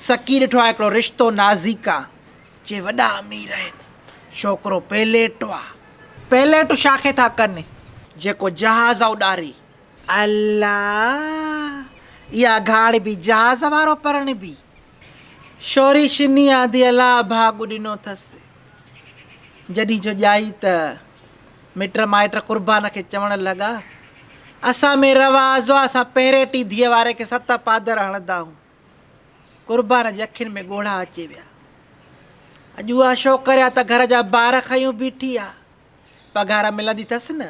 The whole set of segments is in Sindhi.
سڪي ڏٺو آ هڪڙو رشتو نازيڪا جي وڏا امير آهن ڇوڪرو پيليٽو آ پيليٽو شاخي ٿا ڪن جيڪو جهاز آ اڏاري. الا اها گهاڙبي جهاز وارو پرڻبي شوري شني آندي الا ڀاڳ ڏنو ٿس جڏهين جو ڄائي ته مٽ مائٽ قربان کي چوڻ لڳا اسان ۾ رواز آ اسان پهريٽي ڌيء واري کي ست پادر هڻدا هون قربان جي اکين ۾ ڳوڙها اچي ويا. اڄ اها شوڪريا ته گهر جا بار کنيو بيٺي آ. پگهار ملندي ٿس نه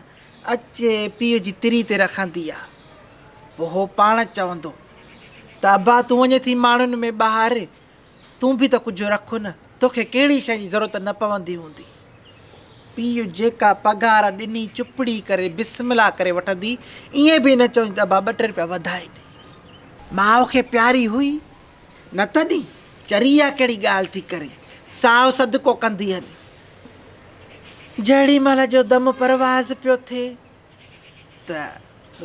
اچي پيء جي تري تي رکندي آ. پوء هو پاڻ چوندو ته ابا تون وڃين ٿي ماڻهن ۾ ٻهاري تون به ته ڪجهه رک نه توکي ڪهڙي شيء جي ضرورت نه پوندي هوندي. پيء جيڪا پگهار ڏني چپڙي ڪري بسم الله ڪري وٺندي، ائين به نه چوندي ته ابا ٻه ٽي روپيا وڌائي ڏي. ماء کي پياري هئي نه تڏهن چري اها ڪهڙي ڳالهه ٿي ڪري، سائو صدقو ڪندي هلي. جهڙي مهل جو دم پرواز پيو ٿئي. ته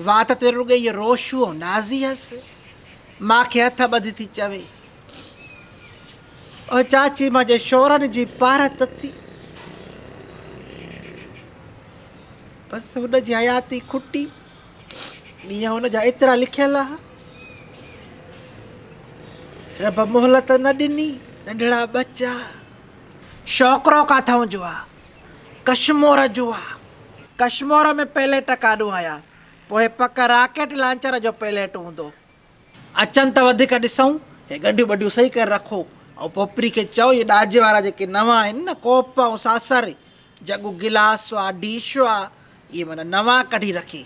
وات تي رڳي هيء روشوء نازي هيس، ماء کي هٿ ٻڌي ٿي چوي، او چاچي مان جي شورن جي پارت ٿي، بس هن جي حياتي کٽي، ڏينهن هن جا ايترا لکيل ها، رب مهلت نه ڏني، ننڍڙا ٻچا، شوڪرو ڪاٿئون جو آ. ڪشمور جوء ڪشمور ۾ پئليٽ ڪاڏون آيا پوء پڪ راڪيٽ لانچر جو پئليٽ هوندو. اچن ته وڌيڪ ڏسئون. هي ڳنڍيون ٻنڍيون صحيح ڪري رکو ۽ پوپري کي چئو اهي ڏاجي وارا جيڪي نوان آهن نه ڪوپ ۽ ساسر جڳون گلاس هئا ڊش هئا اهي معنيٰ نوان ڪڍي رکي.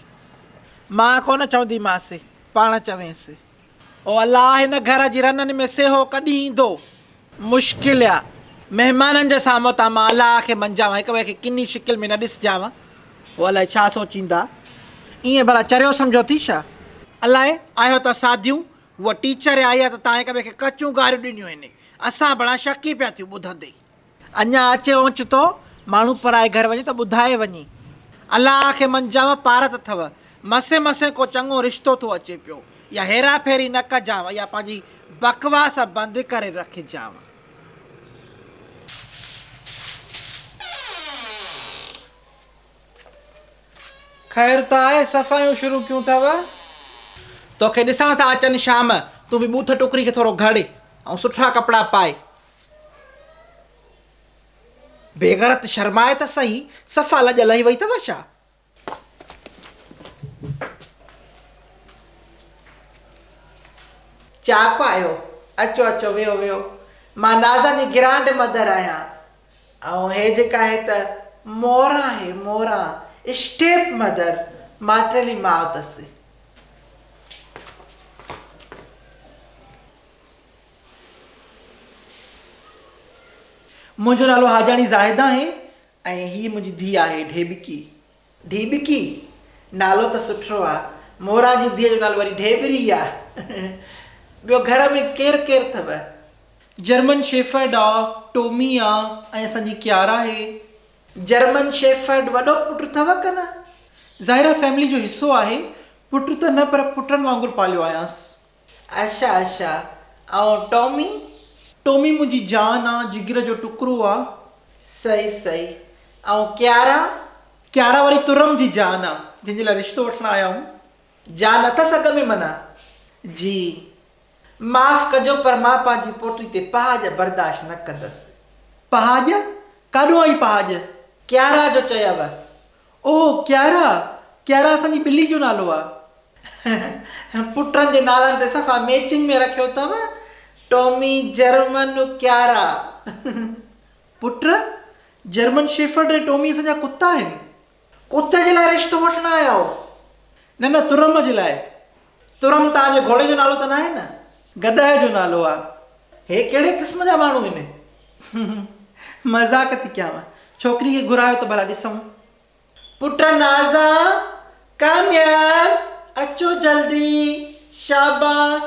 مان ڪونه چونديمانس پاڻ چوينس. او الله! هن گهر جي رنن ۾ سيهو ڪڏهن ايندو؟ مشڪل آ، مهمانن جي سامهون تان مان الله کي منجهاوان، هڪ ٻئي کي ڪني شڪل ۾ نه ڏسجانء. هو الائي ڇا سوچيندا؟ ائين ڀلا چريو سمجهو ٿي ڇا؟ الائي آهيو ته ساڌيون، هوء ٽيچر آئي آ ته تان هڪ ٻئي کي ڪچيون گاريون ڏنيون هين. اسان ڀلا شڪي پيا ٿيون ٻڌندي ئي. اڃا اچي اوچتو ماڻهو پرائي گهر وڃي ته ٻڌائي وڃي الله کي منجانء پارت اٿئو، مسين مسين ڪو چڱو رشتو ٿو اچي پيو، اها هيرا ڦيري نه ڪجانء، اها پنهنجي بڪواس بند ڪري رکجانء. خير ته آهي صفايون شروع ڪيون اٿئو. توکي ڏسڻ ٿا اچن شام، تون به ٻوٿ ٽڪري کي ٿورو گهڙ ۽ سٺا ڪپڙا پائي، بيغرت شرماء ته سهي صفا لڄ لهي وئي اٿئو ڇا؟ چاڪ آيو، اچو اچو ويهو ويهو، مان نازا جي گرانڊ مدر آهيان ۽ هي جيڪا آهي ته موران آهي موران اسٽيپ مدر، ماٽيلي ماء اٿس. منهنجو نالو حاجاڻي زاهد آهي ۽ هيء منهنجي ڌيء آهي ڍيٻڪي. ڍيٻڪي؟ نالو ته سٺو آ. مورا جي ڌيء جو نالو وري ڍيٻري آ. ٻيو گهر ۾ ڪير ڪير اٿو؟ جرمن شيفرڊ آ، ٽومي آ ۽ اسان جي ڪيارا آهي. جرمن شيفرڊ وڏو پٽ اٿو ڪن آ؟ ظاهر آ فيملي جو حصو آهي. پٽ ته نه پر پٽن وانگر پاليو آهيانس. عائشه عائشه ۽ ٽامي؟ ٽامي منهنجي جان آ، جگر جو ٽڪرو آ. صحيح صحيح ۽ ڪيارا؟ ڪيارا وري ترم جي جان آ، جنهن جي لاء رشتو وٺڻ آيا آهيون. جان اٿس اڳ ۾ منا؟ جي. معاف ڪجو پر مان پنهنجي پوٽي تي پهاڄ برداشت نه ڪندس. پهاڄ؟ ڪاڏو آئي پهاڄ؟ ڪيارا جو چيو او ڪيارا، ڪيارا اسان جي ٻلي جو نالو آ. پٽن جي نالن تي صفا ميچنگ ۾ رکيو اٿم، ٽومي، جرمن، ڪيارا. پٽ، جرمن شيفرڊ ۽ ٽومي اسان جا ڪتا آهن. ڪتي جي لاء رشتو وٺڻ آيا آهيو؟ نه نه ترم جي لاء. ترم تان جي گهوڙي جو نالو ته ناهي نه؟ گڏهه جو نالو آ. هي ڪهڙي قسم جا ماڻهو هن. مذاق ٿي ڪيانء. ڇوڪري کي گهرايو ته ڀلا ڏسون. پٽ نازا، ڪاميار، اچو جلدي. شاباس.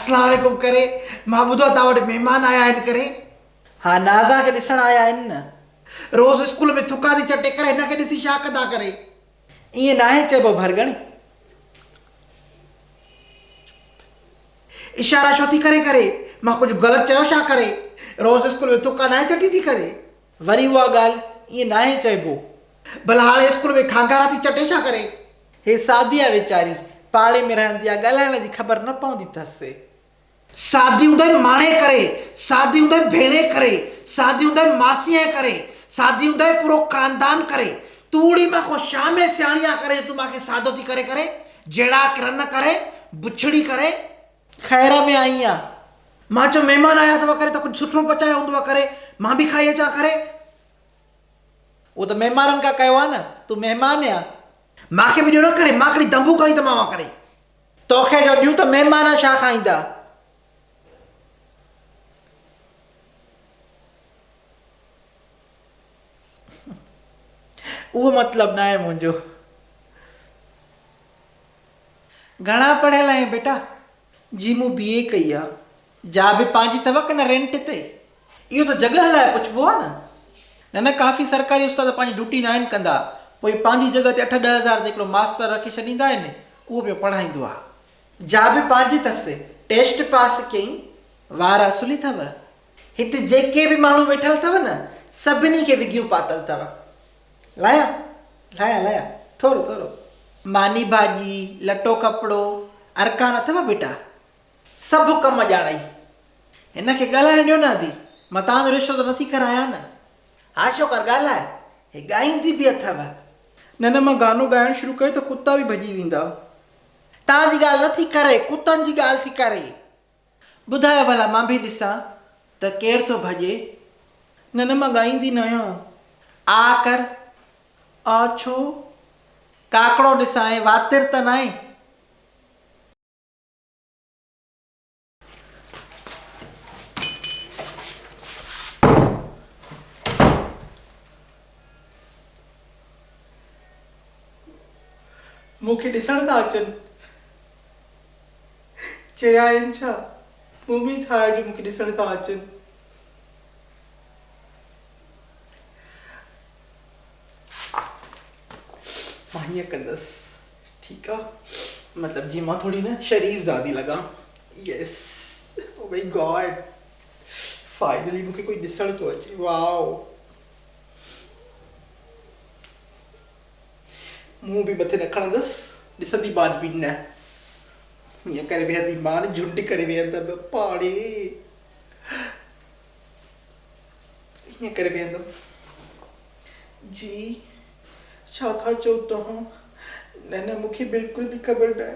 اسلام عليڪم ڪري مان ٻڌو تان وٽ مهمان آيا آهن ڪري. ها نازا کي ڏسڻ آيا آهن نه. روز اسڪول ۾ ٿڪان ٿي چٽي ڪري هن کي ڏسي ڇا ڪندا ڪري. ائين ناهي چئبو ڀرڳڻ. اشارا ڇو ٿي ڪرين ڪري. مان ڪجهه غلط چيو ڇا ڪري. روز اسڪول ۾ ٿڪان ناهي چٽي ٿي ڪري. وري اها ڳالهه ائين ناهي چئبو. ڀلا هاڻي اسڪول ۾ کانگارا ٿي چٽي ڇا ڪري. هي سعديه ويچاري پاڙي ۾ رهندي آ ڳالهائڻ جي خبر نه پوندي ٿس. سعدي هوندي ماڻهي ڪري، سعدي هوندي ڀيڻي ڪري، سعدي هوندي ماسيء ڪري، سعدي هوندي پورو خاندان ڪري، تون اڙي مان ڪو شا ۾ سياڻي آ ڪري جو تون مان کي سعدو ٿي ڪري ڪري، جهڙا ڪرن ڪري، بڇڙي ڪري. خير ۾ آئين آ؟ مان چيو مهمان آيا اٿو ڪري ته ڪجهه سٺو پچايو هوندو ڪري مان به کائي اچان ڪري، اهو ته مهمانن کان ڪيو آهي نه، تون مهمان يا؟ مان کي به ڏيو نه ڪري، مان ڪهڙي دنبو کائي ته مان اها ڪري. تو کي جو ڏيون ته مهمان ڇا کائيندا؟ اهو مطلب ناهي منهنجو. گهڻا پڙهيل آهين بيٽا؟ جي مون بي اي ڪئي آ. جا به پنهنجي اٿو ڪنه رينٽ تي. اهو ته جڳهه لاء پڇبو آ نه. نه نه ڪافي سرڪاري استاد پنهنجي ڊوٽي ناهن ڪندا پوء پنهنجي جڳهه تي اٺ ڏهه هزار تي هڪڙو ماستر رکي ڇڏيندا آهن اهو پيو پڙهائيندو آ. جا به پنهنجي اٿس. ٽيسٽ پاس ڪيئين. وار اصلي اٿو. هت جيڪي به ماڻهو ويٺل اٿو نه سڀني کي وڳيون پاتل اٿو. لاهيان لاهيان لاهيان ٿورو ٿورو. ماني ڀاڄي لٽو ڪپڙو ارڪان اٿو ٻيٽا. سڀ ڪم ڄاڻئي. هن کي ڳالهائڻ ڏيو نه ادي. مان توهان جو رشتو ته نٿي ڪرايان نه. ها شوڪار ڳالهاء. هي ڳائيندي به اٿو. نه نه مان گانو ڳائڻ شروع ڪيو ته ڪتا به ڀڄي ويندا. توهان جي ڳالهه نٿي ڪري ڪتن جي ڳالهه ٿي ڪري. ٻڌاء ڀلا مان به ڏسان ته ڪير ٿو ڀڄي. نه نه مان ڳائيندي ناهيان. آء ڪر آء ڇو ڪاڪڙو ڏسان ۽ واتر ته ناهي. مون کي ڏسڻ ٿا اچن. چريا آهن ڇا؟ مون ۾ ڇا آهي جو مون کي ڏسڻ ٿا اچن؟ مان هيئن ڪندس ٺيڪ آ مطلب جيئن مان ٿوري نه شريف زادي لڳان yes oh my God finally مون کي ڪوئي ڏسڻ ٿو اچي واء منهن به مٿي نه کڻندس، ڏسندي مان به نه. هيئن ڪري ويهندي مان، جهنڊ ڪري ويهندم پاڙي. هيئن ڪري ويهندم. جي، ڇا ٿا چئو توهان؟ نه نه، مون کي بلڪل به خبر ناهي.